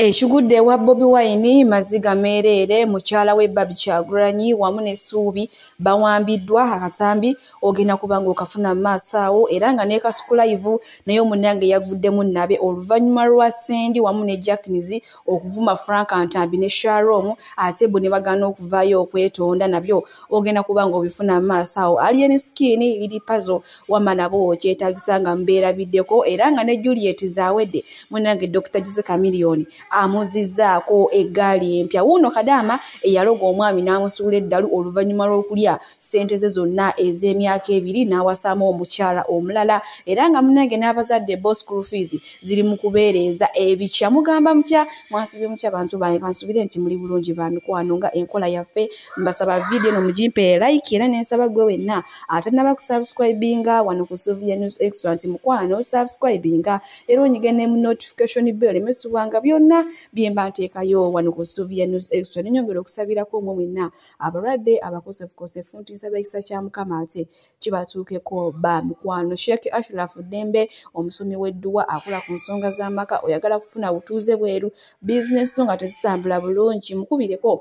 Ekigudde ewa Bobi Wine maziga meereere mukyala we Barbie Kyagulanyi wamu ne Ssuubi bawambiddwa akatambi ogenda kuba ng'okafuna mu maaso awo era nga ne Kasukulayivu naye omunange yaguddemu nnabe oluvannyuma lwa Sendi wamu ne Jackins okuvuma Frank Ntambi ne Sharom ate bo ne bagaana okuvaayo okwetonda nabyo ogenda kuba ng'obifuna mu maaso awo Alien Skin liri pazo wama nabo kyetaagisa nga mubeerabiddeko era nga ne Juliet zaawedde munange dr juse kamiliyoni amuzizaako eggaali empya wuuno kadaama eyaloga omwami n'amusuula eddalu oluvannyuma lw'okulya ssente ze zonna ez'emyaka ebiri n'awasaamu omukyala omulala era nga munange n'abazadde bo school fees ziri mu kubeereeza ebikya mugamba mutya mwasibye mutya bantu bange kansubire nti muli bulungi ba mikwano nga enkola yaffe mbasaba vidiyo eno mugimpe like era nensaba gwe wenna atanaba kusubscribinga wano ku suvia news extra nti mukwano subscribinga era onyige ne mu notification bell emesubwa nga byonna byemba nteekayo wano ku suvia news extra nenyongera okusabirako omwe mwenna abalwadde abakosefukosefu nti nsaba ekisa kya mukama ate kibatuukeko ba mikwano sheikh ashraf ddembe omusomi w'edduwa akola ku nsonga z'amaka oyagala kufuna butuuze bweru bizinesi nga tezitambula bulungi mukubireko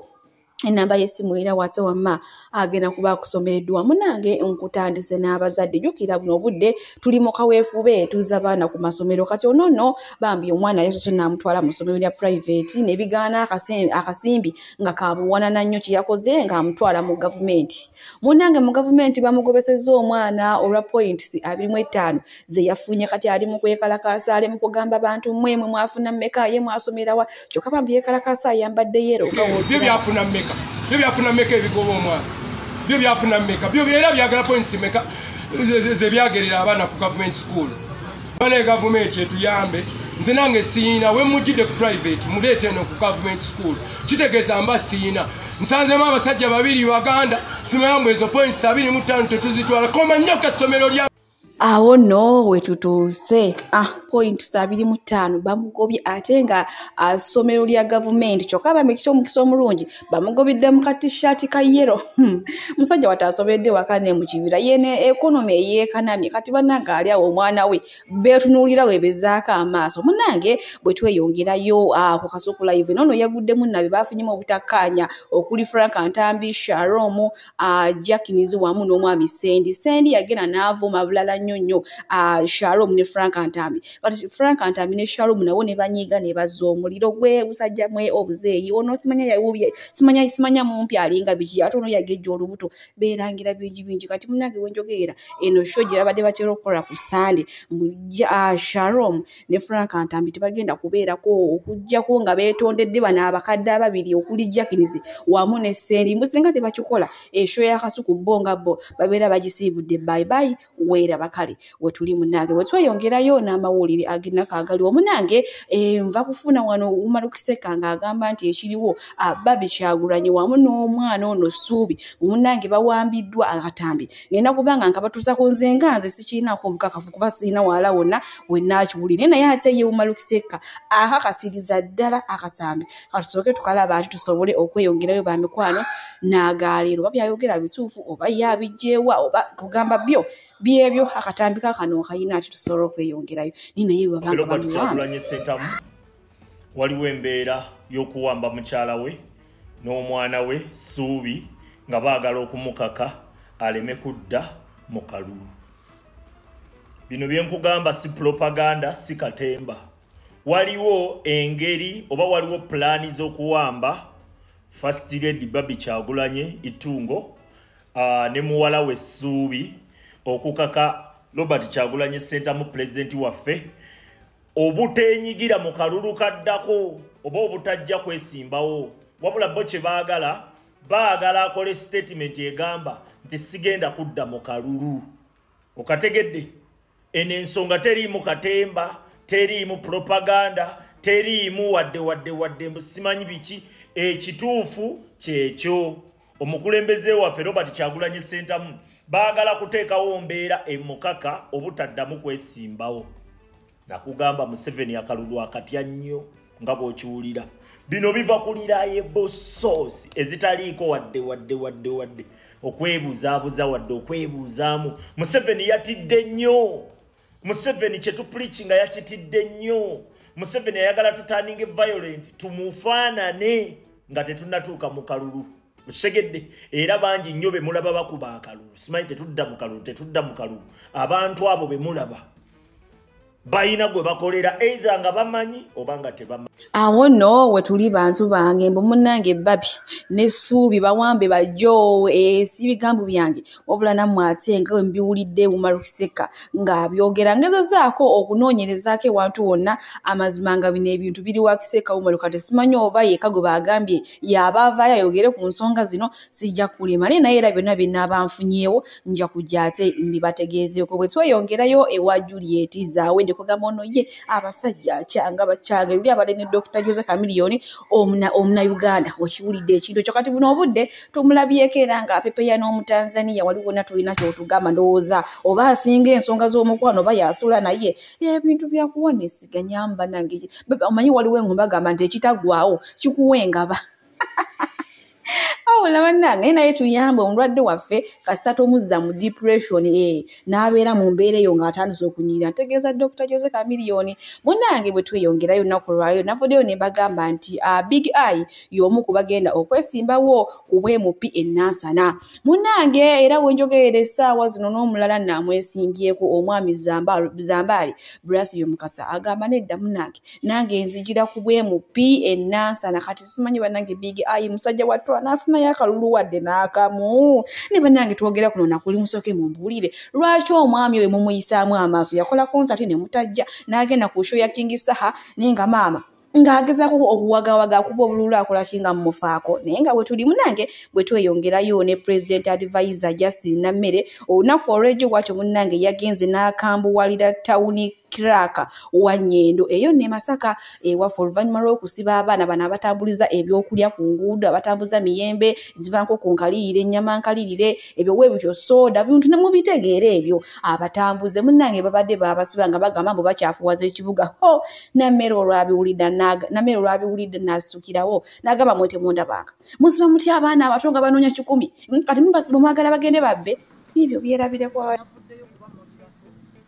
enamba yesimu era wate wamma agenda kuba akusomereddwa munange nkutandise n'abazadde jukira buno obudde tuli mu kaweefube tuza baana ku masomero kati onono bambi omwana yasose namutwala mu somero lya private nebigaana akasimbi nga kabuwanana nnyo kyeyakoze ngaamutwala mu gavumenti munange mu gavumenti bamugobeseza omwana olwa points abirimu ettaano ze yafunye kati ali mu kwekalakaasa ali mu kugamba bantu mwe mwe mwafuna mmeka ye mwasomerawa kyokka bambi yekalakaasa ayambadde yero byo byafuna mmeka byo byafuna mmeka ebigoba omwana byo byafuna mmeka byo era byagala points mmeka ze byagerera abaana ku gavumenti school bana egavumenti etuyambe nze nange siina wemujjidde ku private muleeta eno ku gavumenti school kitegeeza mba siina nsanzemu abasajja babiri baganda simayambo ezo points abiri mu ttaano tetuzitwala koma nnyo kasomero lya awo no wetutuuse ah, point sabiri mu ttaano bamugobye ate nga asomero ah, lya gavumenti kyokka bamikisa omukisa omulungi bamugobidde mu katishaati ka yero hmm. musajja wati asobedde waka ne mu kibira yene ekonomi eyeekanamye kati banange ali awo omwana we beetunuulira webezaako amaaso munange bwe tweyongerayo ah, ku kasuku live noono yaguddemu nabe baafunyemu obutakkaanya okuli frank ntambi sharomu uh, jakinizi wamu n'omwami sendi sendi yagenda n'avuma bulala nnyo nnyo uh, sharom ne frank antambi but frank antambi ne sharom nabo ne banyiiga ne bazza omuliro gwe busajja mwe obuzeeyi ono simanya yawubye simanya simanya mumpi alinga biki ate ono yagejja olubuto beerangira bingi bingi kati munange wenjogeera eno sho gye babadde batera okukola ku sande mbu uh, sharom ne frank ntambi tebagenda kubeerako okugyako nga beetondedde bano abakadde ababiri okuli jackins wamu ne sendi mbu singa tebakikola esho yakasuku bo nga bo babeera bagisiibudde baibai weera bakale wetuli munange wetweyongerayo n'amawulire agenako agali omunange eh, nva kufuna wano umarukiseka ng'agamba nti ekiriwo ababi kyagulanyi wamu n'omwana ono suubi munange bawambiddwa akatambi nina kuba nga nkabatuza ku nze nga nze sikirinako obukakafu kuba sirina wala wonna wenaakiwulire naye naye ate yewuma lukusekka akakasiriza ddala akatambi katusooke tukalaba ati tusobole okweyongerayo ba mikwano n'agaaleero oba byayogera bituufu oba yabijjeewa oba kugamba byo byebyo akatambi kakano kayina ati tusobole okweyongerayo naye naye webabangabamuwanga waliwo embeera y'okuwamba mukyala we n'omwana we suubi nga baagala okumukaka aleme kudda mu kalulu bino byenkugamba si propaganda si katemba waliwo engeri oba waliwo pulaani z'okuwamba first lady babi kyagulanye itungo uh, ne muwala we suubi okukaka robert kyagulanye sentamu pulezidenti waffe obuteenyigira mu kalulu kaddako oba obutajja kwesimbawo wabula bo kye baagala baagala akole sitatimenti egamba nti sigenda kudda mu kalulu okategedde eno ensonga teriimu katemba teriimu propaganda teriimu wadde wadde wadde mbusimanyi biki ekituufu kyekyo omukulembeze waffe robert kyagulanyi sentamu baagala kuteekawo mbeera emukaka obutaddamu kwesimbawo nakugamba museveni akalulu akatya nnyo nga bw'okiwulira bino biva kuliraye bosoosi ezitaliiko wadde wadde wadde wadde okwebuzabuza wadde okwebuuzaamu museveni yatidde nnyo museveni kyetupulikinga yakitidde nnyo museveni ayagala tutaninge violent tumufaanane nga tetunatuuka mu kalulu okitegedde era bangi nnyo bemulaba bakuba akalulu simanyi tetudda mu kalulu tetudda mu kalulu abantu abo bemulaba balina gwe bakolera eitha nga bamanyi oba nga tebamanyi awo no wetuli bantu bange mbu munange babi nesuubi bawambe bajo esi eh, bigambo byange wabula namwe ate nga wembiwulidde wumarukiseka ngaabyogera ngezezaako okunoonyerezaako ewantu wonna amazima nga bino ebintu biri wakiseka wumaruka tesimanyi oba yeka gwe bagambye yaaba avaayo ayogere ku nsonga zino sijja kulema naye naye era byonna byenaaba nfunyeewo nja kujja ate mbibategeezeeko bwe tweyongerayo ewa juliet zaawedde kugamba ono ye abasajja akyanga bakyanga ebiri abadde ne dr jose camilioni omunauganda okiwulidde ekintu ekyo kati buno obudde tumulabyeko era nga apepeya n'omutanzania wali wona tulina kyotugamba ndowooza oba asinga ensonga z'omukwano oba yasula naye ebintu byakuwa nesiganyamba nange omanyi waliwo engumba gamba nti ekitagwawo kikuwa engaba awula bannange naye tuyambe omulwadde waffe kasita tomuzza mu depression ee eh, n'abeera mu mbeera eyo ng'atandise okunyirira ntegeeza dokita jose kamiliyoni munnange bwe tweyongerayo nnaku lwayo navuddeyo ne mbagamba nti ah, big eye y'omu ku bagenda okwesimbawo ku bwemupi ennansana munnange era wenjogerera essaawa zino n'omulala namwesimbyeko omwami zambaali brasio mukasa agamba nedda munnange nange nzijira ku bwemu pi enansana kati simanyi banange big ayi musajja wattu anaafunayo akalulu wadde n'akamu ne banange twogera kuno nakuli musooke mumbuulire lwaki omwami oyo mumuyisaamu amaaso yakola konsati ne mutajja n'agenda ku sho ya kingi saha naye nga maama ng'agezaako okuwagawaga akuba obululu akolaki nga mumufaako naye nga bwe tuli munange bwe tweyongerayo ne president advisor justin nammere olunaku olw'ejo bwatyo munange yagenze n'akambuwalira tawuni kiraka wa nyendo eyo ne masaka ewaffe oluvannyuma lw'okusiba abaana bano abatambuliza ebyokulya ku nguudo abatambuza miyembe zibanko ku nkaliyire ennyama nkalirire ebyo we bityo sooda bintu ne mubitegeera ebyo abatambuze munnange babadde baabasiba nga bagamba mbu bakyafuwaza ekibuga ho nammere olwabiwulidde nammere olwabiwulidde naasitukirawo nagamba mwe temundabanga musiba mutya abaana abato nga banoonya kikumi kati mubasiba mwagala bagende babbe ebyo byerabireko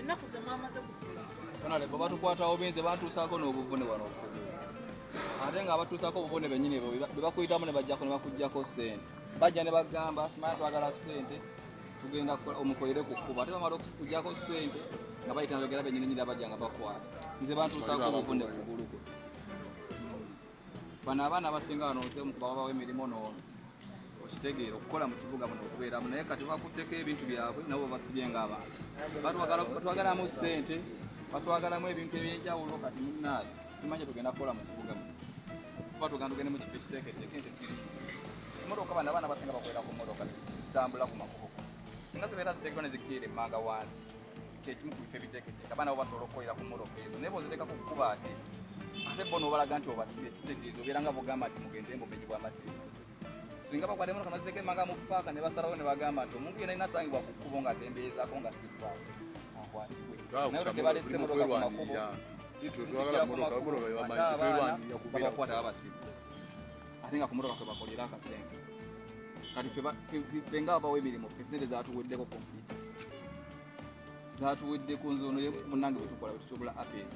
ennaku ze mwamaze ku poliisi onalebo batukwatawo binze bantuusaako n'obuvune wano okugulu ate nga abatuusaako obuvune bennyini bo be bakuyitamu ne bajjako ne bakugjako ssente bajja ne bagamba simanya twagala ssente tugenda omukolere ku kkuba ate bamala okukugjako ssente nga bayita nabagera bennyini nyini abajja nga bakwata nze bantuusaako obuvune kugulu kwe bano abaana abasinga wano nze omu kubababawo emirimu noono okitegeera okukola mu kibuga muno okubeeramu naye kati bakutteko ebintu byabwe nabo basibye ngaabantu batwagalamu ssente batwagalamu ebintu ebyenjawulo kati munaayo simanyi tugenda kukola mu kibuga muno kuba tugenda tugende mu kifo ekiteeketeeke nti kiri emotoka bano abaana basinga bakolera ku motoka zitambula ku makubo singa zibeera ziteekebwa ne zikiira emmanga wansi kyekimu ku bifo ebiteeketeeka abaana bo basobola okukolera ku moroka ezo naye bozirekako kukuba ate ate bona obalaga nti obasiba ekitegeeza obeera nga bogamba nti mugende mbumenyi bwamateeka singa bakwata emotoka nazireka emanga mu paaka ne basalawo ne bagamba nti omuntu yena inasangibwa ku kkubo ng'atemberezaako nga sipaaka akwatibwe naye tebalese motoka ku makubo zitwala motoka motoka yabamanya kwelwanira kubeera kwata abasiba ate nga kumotoka kwebakolera akasente kati fe nga abawo emirimu fe sente zatuweddeko kompyuta zatuweddeko nzono munange bwetukola bwetusobola apel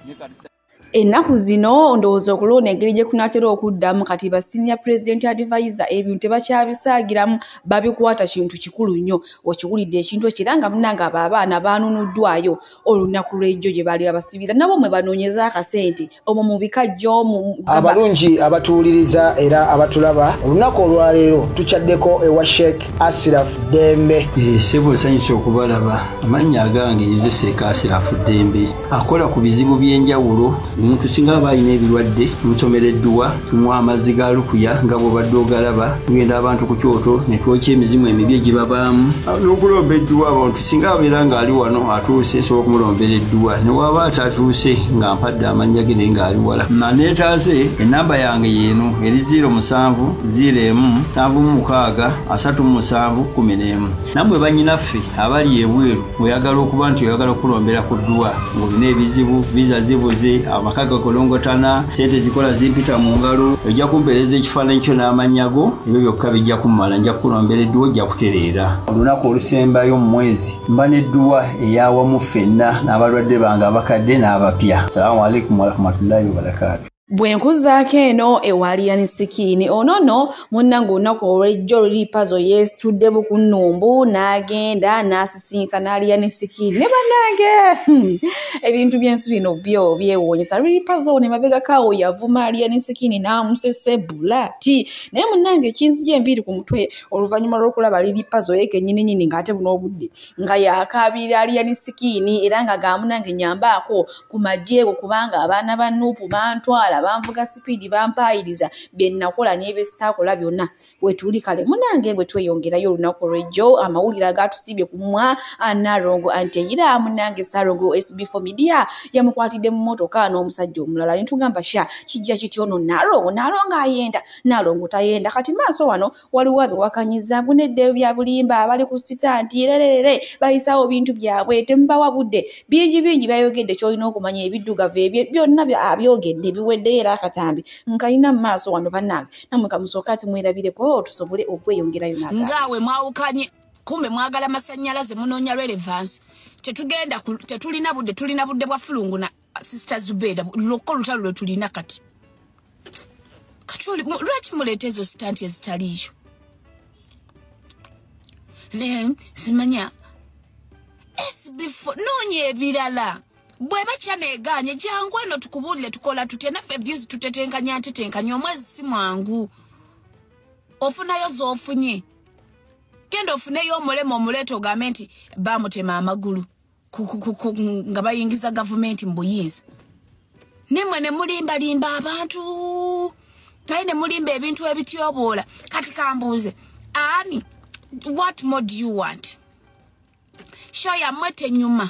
naye kati ennaku zino ndowooza okulonda engeri gye kunatera okuddamu kati ba senior president advisor ebintu tebakyabisaagiramu babikwata kintu kikulu nnyo okiwulidde ekintu ekyo era nga munange abo abaana baanunuddwayo olunaku lwejjo gye baali babasibira nabo mwe banoonyeza akasente omwo mu bikajjo abalungi abatuwuliriza era abatulaba olunaku olwaleero tukyaddeko ewa sheik asiraf dembe eh, sebo nsanyusa okubalaba amannya agange nze sheik asiraf dembe akola ku bizibu by'enjawulo omuntu singa aba alina ebirwadde musomera edduwa tumuwa amazzi ga lukuya nga bwobadde ogalaba tugenda abantu ku kyoto ne twokya emizimu emibi egibabaamu n'okulomba edduwa abantu singa abeera ng'ali wano atuuse nsobola okumulombera edduwa ne waaba atatuuse nga mpadde amannya ge naye ng'ali wala maneetaaze ennamba yange yeeno eri 0 musanvu 0 emu nsanvu mu mukaaga asatu mu musanvu kumi n'emu nammwe bannyinaffe abali ebweru oyagala okuba nti oyagala okukulombera ku dduwa ng'olina ebizibu viza zibuze amaka gakolongotana sente zikola zimpita mu ngalo ojja kumpeereza ekifaananyi kyo n'amannya go ebyo byokka bijja kummala nja kukulombera edduwa ojja kutereera olunaku olusembayo mu mwezi mba nedduwa eyawamu ffenna n'abalwadde bange abakadde n'abapya salamu aleikum warahmatullahi wabarakatu bwe nkuzaako eno ewaliyani sikiini ono no munnange olunaku olwejjo luli pazo yeesitudde bukunnumbu n'agenda n'asisinkana aliyani sikiini ne bannange hmm, ebintu by'ensi bino byo byewuunyisa luli pazo ne mabegakaawo yavuma aliyani sikiini n'amusese bulaati naye munnange ekinzija enviiri ku mutwe oluvannyuma lw'okulaba liri pazo ye kenyini nyini ng'ate buno obudde nga yakaabira aliyani sikiini era nga gaamunange nyambaako ku magyeego kubanga abaana ba nuupu bantwala banvuga sipiidi bampaayiriza bye nnakola n'ebyesitaakola byonna wetuli kale munange bwe tweyongerayo olunaku olwejjo amawulire agaatusiibye ku mwa anaalongo anti eyira munange saalongo sb fo midiya yamukwatidde mu mmotoka n'omusajja omulala ne tugamba sha kijja kityono naalongo naalongo ayenda nalongo tayenda kati maaso wano waliwo abiwakanyiza mbu neddeyo bya bulimba abali ku sita nti rererere bayisawo bintu byabwe temubawa budde bingi bingi byayogedde kyolina okumanya ebiddugavu ebye byonna abyogedde biweddeyo era akatambi nkalina mu maaso wano banange namwe kamusooka ati mwerabireko tusobole okweyongerayo naga ngaawe mwawukanye kumbe mwagala masannyalaze munoonya relevance tetugenda tetulina budde tulina budde bwa fulunguna sister zubeda lwokka olutalo lwe tulina kati kati lwaki muleeta ezo sitanti ezitaliiyo ne simanya esbefore noonya ebirala bweba kyaneegaanye jangu eno tukubuulire tukola tutya naffe views tutetenkanya ntetenkanya omwezi si mwangu ofunayo zoofunye genda ofuneyo omulema omuleeta ogambe nti bamutema amagulu nga bayingiza gavumenti mu buyinza nimwe ne mulimbalimba abantu naye ne mulimba ebintu ebityoboola kati kambuuze ani what more do you want shoya mwe tenyuma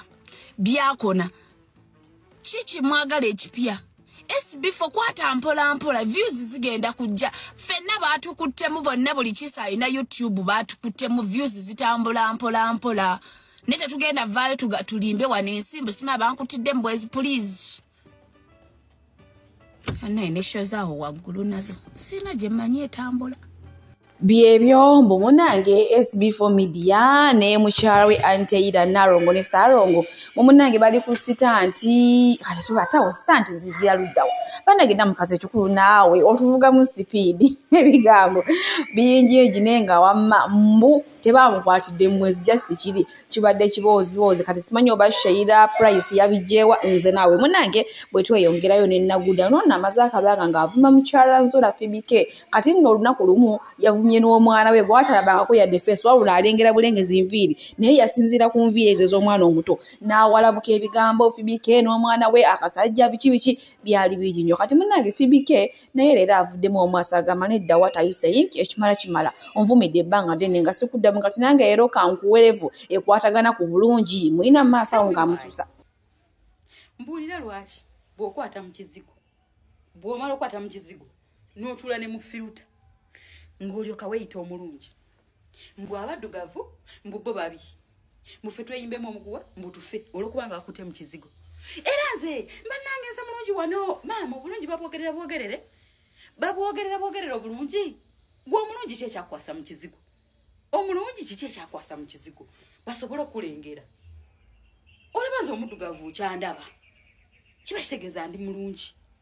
byakona kiki mwagala ekipya sb fe kwata mpola mpola views zigenda kujja fenna baatukuttemu bonna buli kisa alina youtube baatukuttemu views zitambula mpola mpola naye tetugenda vaayo tulimbe wano ensimbu sima bankutidde mubwezi please naye nesho zaawo waggulu nazo siina gye mmanyi etambula byebyo mbu munange sb4 media ne mukyala we anteira narongo ne sarongo mu munange bali ku sitanti kale tubatawo sitanti zigira luddawo banage namukazi ekikulu naawe otuvugamu sipiidi ebigambo bingi egine nga wamma mbu tebamukwatidde mwezi just kiri kibadde kibooziboozi kati simanyi oba sheira price yabijjeewa nze naawe munange bwe tweyongerayo nenaguda noona amaze akabanga ng'avuma mukyala nzula fibike kati nno olunaku lumu yavumye n'omwana we gwatalabangako yadde feesi wabula alengera bulengezi nviiri naye yasinziira ku nviiri ezo ez'omwana omuto n'awalabuka ebigambo fibike n'omwana we akasajja biki biki byali bingi nnyo kati munange fibike naye leero avuddemu omwasa agamba nedda wat ayu saying ekimala kimala onvumidde ebbanga ddene nga sikuddamu kati nange leero kankuwerevu ekwatagana ku bulungi mulina mu maaso awo ngaamususa mbuulira lwaki bw'okwata mu kizigo bw'omala okwata mu kizigo n'otuula ne mu firuta ng'olyoka weyita omulungi mbu abaddugavu mbu bo babi mufe tweyimbemu omuguwa mbutufe olwokuba nga akute mu kizigo era nze mbannange nze mulungi wano maama obulungi babwogerera bwogerere babwogerera bwogerera obulungi gwe omulungi ki ekyakwasa mu kizigo omulungi kiki ekyakwasa mu kizigo basobole okulengera olaba nze omuddugavu kyandaba kiba kitegeeza ndi mulungi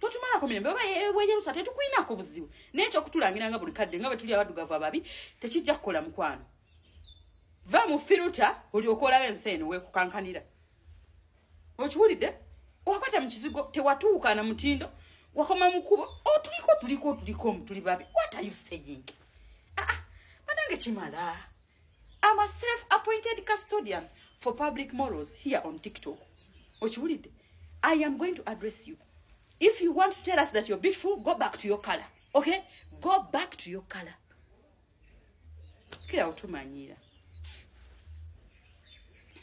totumalako mirembe oba weyerusa tetukulinako buzibu naye ekyokutulangira nga buli kadde nga bwe tuli abaddugavu ababi tekijja kukola mukwano va mu firuta olyoka olaba ensi eno wekukankanira okiwulidde wakwata mu kizigo tewatuuka na mutindo wakoma mu kubo otuliko oh, tuliko tuliko mutuli babi what are you saying aa ah, ah, banange kimala am a self appointed custodian for public morals here on tiktok okiwulidde i am going to address you if you want to tell us that you're beautiful go back to your color okay go back to your color kira otumanyiira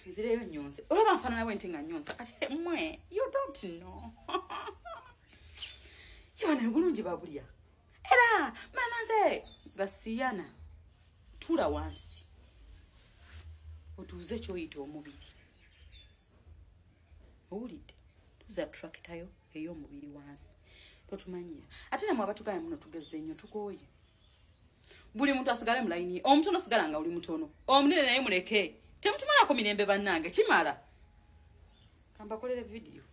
nzireyo nyonse olaba nfanana we nti nga nyonsa kati mwe you don't know yona obulungi babulya era mama nze gasiyana tula wansi otuuze kyoyita omubiri owulidde tuza turakitayo ey'omubiri wansi totumanyira ate namwe abatugaya muno tugezze nnyo tukooye buli muntu asigale mulayini omutono sigala nga oli mutono omunene naye muleke temutumalako mirembe bannange kimala kambakolere vidiyo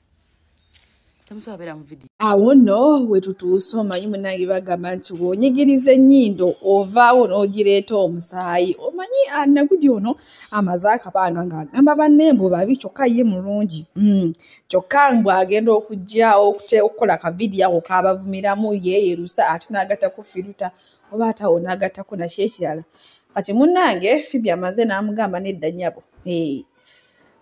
temusobola mu vidiyo awo no wetutuuse omanyi munange bagamba nti wonyigiriza ennyindo ovaawo n'ogireeta omusaayi omanyi anagudi ah, ono amaze akabanga ng'agamba banne mbu babi kyokka ye mulungi hmm. kyokka mbu agenda okugyawo okukola kavidiyo ako kabavumiramu yeeyerusa ate n'agatta ku firuta oba atawo n'agattako nakyo ekirala kati munange fibi amaze n'amugamba nedda nyabo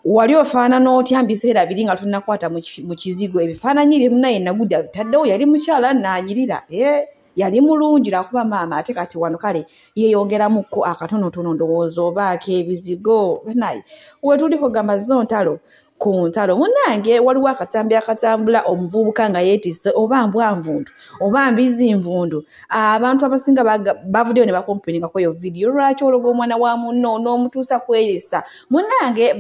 wali ofaanana otya mu biseera biri nga tunakwata mu kizigo ebifaananyi bye munaye nagudde abitaddewo yali mukyala naanyirira eh, yali mulungi lwakuba maama ate kati wano kale yeeyongeramuko akatonotono ndowooza oba akeebizigo naye wetuli kugamba zo ntalo ku ntalo munange waliwo akatambi akatambula omuvubuka nga yeetise oba mbwanvundu oba mbizi nvundu abantu abasinga bavuddeyo ne bakompiningako eyo vidiyo lwaki ologa omwana wa munno n'omutuusa kweyisa munange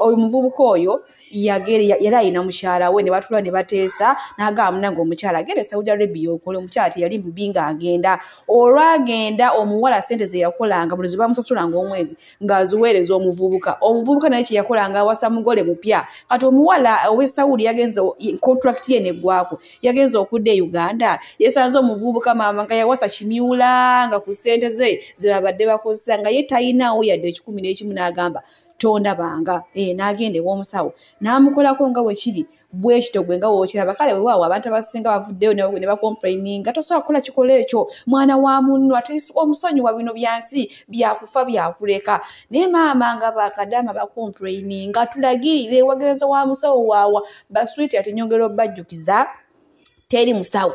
oyo muvubuka oyo yagere yali alina mukyala we ne batula ne bateesa n'agamba munange omukyala agenda e saudi arabia okola omukyala teyali mubi nga agenda olwagenda omuwala sente ze yakolanga buli zibamusasulanga omwezi ng'aziweereza omuvubuka omuvubuka naye kye yakolanga awasa mugole mupya kati omuwala ow'e saudi yagenze kontrakiti ye neggwako yagenze okudda e uganda yesanze omuvubuka maama nga yawasa kimyula nga ku ssente ze zebabadde bakozesa nga ye talinaawo yadde ekikumi n'ekimu n'agamba tondabanga ee eh, n'agenda ew'omusawo n'amukolako nga wekiri bwekito gwe nga wokiraba kale wewaawo abantu abasinga bavuddeyo ne bakomplaininga tosobola kukola kikola ekyo mwana wa munno ate omusonyi wa bino byansi byakufa byakuleka naye maama nga bakadaama bakomplaininga tulagirire wagenza wa musawo waawa baswiti ati nyongera obajjukiza teri musawo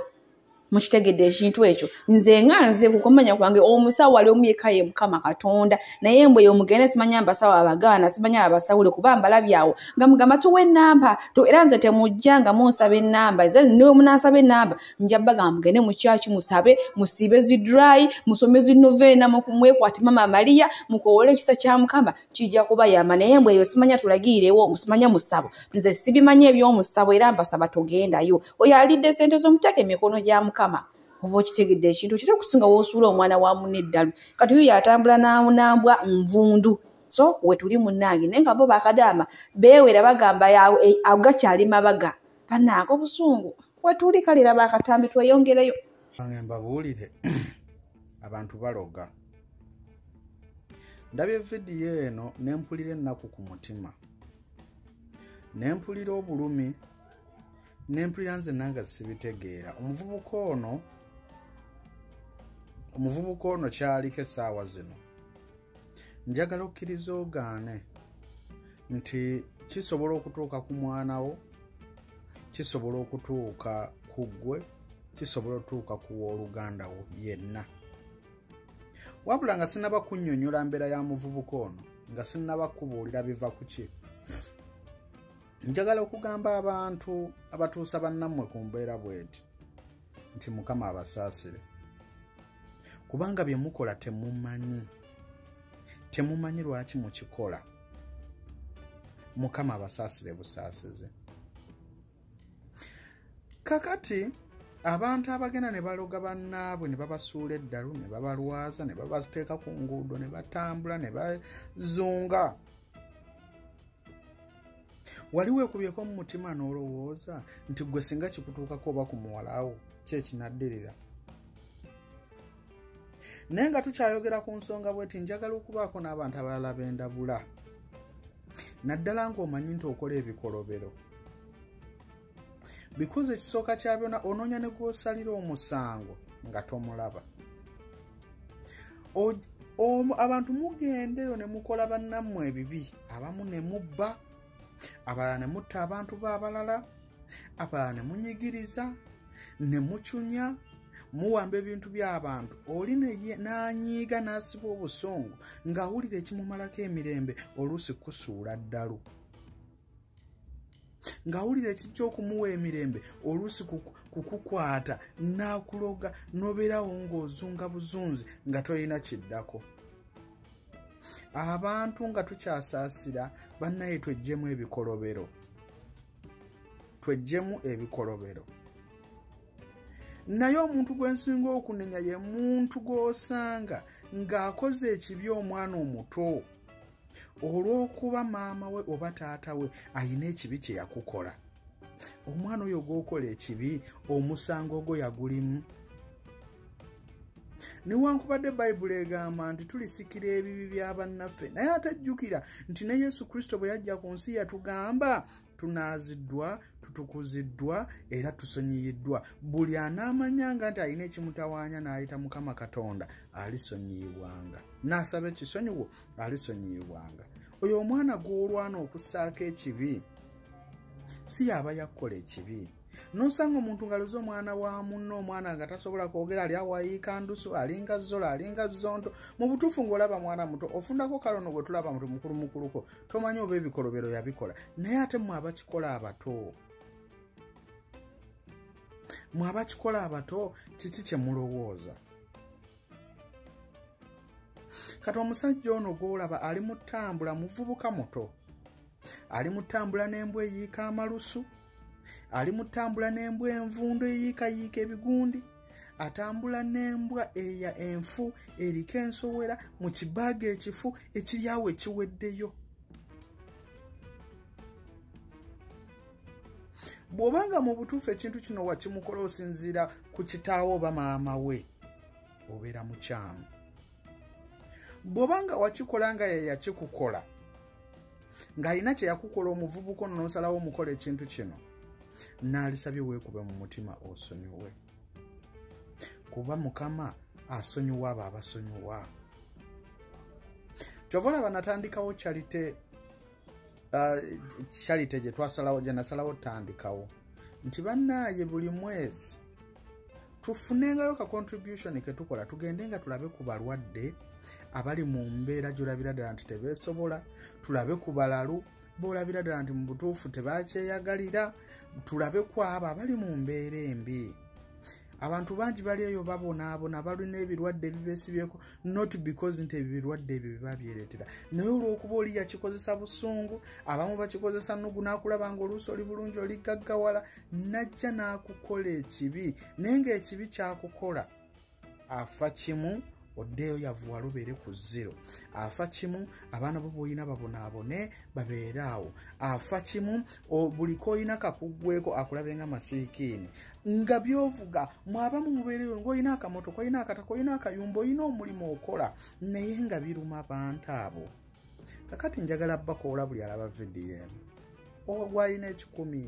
mukitegedde ekintu ekyo nze nga nze kukomanya kwange omusawo wali omu yekka ye mukama katonda naye mbwe yomugende simanya mbasawo abagaana simanya abasawule kuba mbalabyawo nga mugamba tuwa enamba era nze temujja nga munsaba enamba ze newemunasaba enamba nja bagamba mugende mukyaki musabe musiibe zidry musome zinoveena mwekwati mama maria mukowole ekisa kya mukama kijja kuba yama naye mbwe eyo simanya tulagiirewo simanya musabo nze sibimanya ebyomusabo era mbasaba togendayo oyo alidde sente zomutaka emikono gya mukama oba okitegedde ekintu kira okusinga wosuula omwana wa muna eddalu kati oyo yatambula nanambwa nvundu so wetuli munange naye nga bo bakadaama bewera bagamba e, agakyali mabaga banaaka obusungu wetuli kale laba akatambi tweyongereyo ange mbabuulire abantu baloga ndabye vidiyo eno nempulira ennaku ku mutima nempulira obulumi nempulira nze nanga sibitegeera omuvubuka ono omuvubuka ono kyaliko essaawa zino njagala okkiriza ogaane nti kisobola okutuuka ku mwana wo kisobola okutuuka ku ggwe kisobola otuuka ku wooluganda wo yenna wabula nga sinaba kunnyonnyola mbeera ya muvubuka ono nga sinaba kubuulira biva ku ki njagala okugamba abantu abatuusa bannammwe ku mbeera bweti nti mukama abasaasire kubanga bye mukola temumanyi temumanyi lwaki mukikola mukama abasaasire busaasize kakati abantu abagenda ne baloga bannaabwe ne babasuula eddalu ne babalwaza ne babateeka ku nguudo ne batambula ne bazunga wali weekubyeko mu mutima n'olowooza nti gwe singa kikutuukako oba ku muwalawo kyekinaddirira naye nga tukyayogera ku nsonga bweti njagala okubaako n'abantu abalala bendabula naddala ng'omanyi nti okola ebikolobero bikoze ekisooka kya byona onoonya ne gwosalira omusango nga tomulaba abantu mugendeyo ne mukola bannammwe ebibi abamu ne mubba abalala ne mutta abantu be abalala abalala ne munyigiriza ne mucunya muwamba ebintu by'abantu oli n'anyiiga n'asiba obusungu ng'awulira ekimumalako emirembe oluusi kusuula ddalu ng'awulira ekijja okumuwa emirembe oluusi kukukwata n'akuloga n'obeerawo ng'ozunga buzunzi nga tolina kiddako abantu nga tukyasaasira bannaye twejjemu ebikolobero twejjemu ebikolobero naye omuntu gwe nsinga okunenya ye muntu gw'osanga ng'akoze ekibi omwana omuto olw'okuba maama we oba taata we alina ekibi kye yakukola omwana oyo gwokola ekibi omusango ogwo yagulimu newankubadde bayibuli egamba nti tulisikira ebibi bya bannaffe naye ate jjukira nti ne yesu kristo bwe yajja ku nsi yatugamba tunaaziddwa tutukuziddwa era tusonyiyiddwa buli anaamanyanga nti alina ekimutawaanya n'ayita mukama katonda alisonyiyibwanga n'asaba ekisonyiwo alisonyiyibwanga oyo omwana gw'olwana okussaako ekibi si yaaba yakukola ekibi nosanga omuntu ngalo z'omwana wa munno omwana nga tasobola kwogera ali awayiika ndusu alinga zola alinga zonto mu butuufu ng'olaba mwana muto ofundako kalono gwe tulaba mutu mukulu mukuluko tomanyi oba ebikolobero yabikola naye ate mwe abakikola abato mwe abakikola abato kiki kye mulowooza kati omusajja ono gwolaba ali mu ttambula muvubuka muto ali mu ttambula n'embwa eyiika amalusu ali mutambula n'embwa envundu eyiikayiika ebigundi atambula n'embwa eya enfu eriko ensowera mu kibaaga ekifu ekiryawo ekiweddeyo bw'oba nga mu butuufu ekintu kino wakimukola osinziira ku kitaawo oba maama we obeera mukyamu bwoba nga wakikola nga yeyakikukola ng'alina kye yakukola omuvubuka ono n'osalawo omukola ekintu kino naalisabye weekube mu mutima osonyiwe kuba mukama asonyiwa abo abasonyiwa kyova olaba natandikawo kyalite uh, charity gye twasalawo gye nasalawo tandikawo nti bannaaye buli mwezi tufunengayo ka contribution ke tukola tugende nga tulabe ku balwadde abali mu mbeera gyolabira ddala nti tebeesobola tulabe ku balalu boolabira ddala nti mu butuufu tebakyeyagalira tulabe ku abo abali mu mbeera embi abantu bangi bali eyo babonaabona balina ebirwadde ebibesibyeko not because nti ebyo birwadde ebyo bibabyereetera naye olwokuba oli yakikozesa busungu abamu bakikozesa nugu nakulaba nga oluusi oli bulungi oli gaggawala najja n'akukola ekibi naye ngaekibi kyakukola afa kimu oddeeyo yavuwala obeere ku zero afa kimu abaana bo boolina babonaabone babeere awo afa kimu buli koolina kakuggweko akulabe nga masiikiini nga byovuga mwabamu mubeereyo ngaolina akamotoka olina akataka olina akayumba olina omulimu okola naye nga biruma bantu abo kakati njagala bakoola buli alaba vidiyo emu ogwalina ekikumi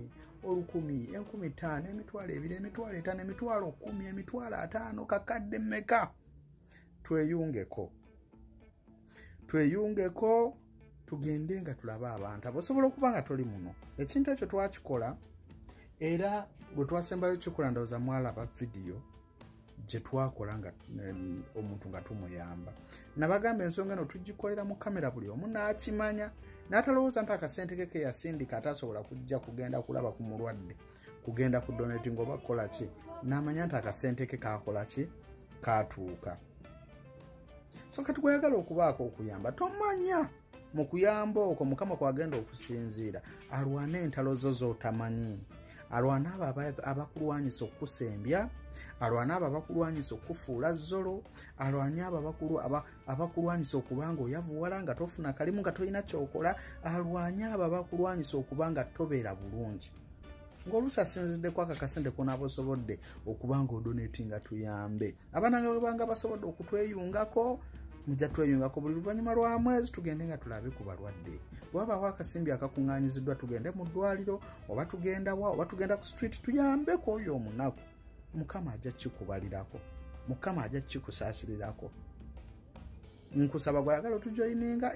olukumi enkumi ttaano emitwalo ebiri emitwalo etaano emitwalo kumi emitwalo ataano kakadde meka tweyungeko tweyungeko tugende nga tulabe abantu abosobola okuba nga toli muno ekintu ekyo twakikola era bwe twasembayo kikola ndowooza mwalaba vidiyo gyetwakola nga omuntu nga tumuyamba nabagamba ensonga eno tugikolera mu kamera buli omu n'akimanya n'atalowooza nti akasente ke keyasindika atasobola kujja kugenda kulaba ku mulwadde kugenda ku donati ngaoba kukola ki n'amanya nti akasente ke kakola ki katuuka so kati gweyagala okubaako okuyamba tomanya mu kuyamba okwo mukama kwagenda okusinziira alwane entalo zo z'otamanyi alwana abo abakulwanyisa okukusembya alwana abo abakulwanyisa okukufuula zolo alwanye abo abakulwanyisa okuba nga oyavuwala nga tofuna kalimu nga tolina kyokola alwanye abo abakulwanyisa okuba nga tobeera bulungi ng'oluusi asinziddeko akakasente konaaba osobodde okuba nga odonatinga tuyambe abaana nga bwebanga basobodde okutweyungako mujja tweyungako buli luvannyuma lwa mwezi tugende nga tulabe ku balwadde wabaawo akasimbi akakuŋŋanyiziddwa tugende mu ddwaliro oba tugenda wa oba tugenda ku street tuyambeko oyo omunaku mukama ajja kikubalirako mukama ajja kikusaasirirako nkusaba gwayagala otujoyininga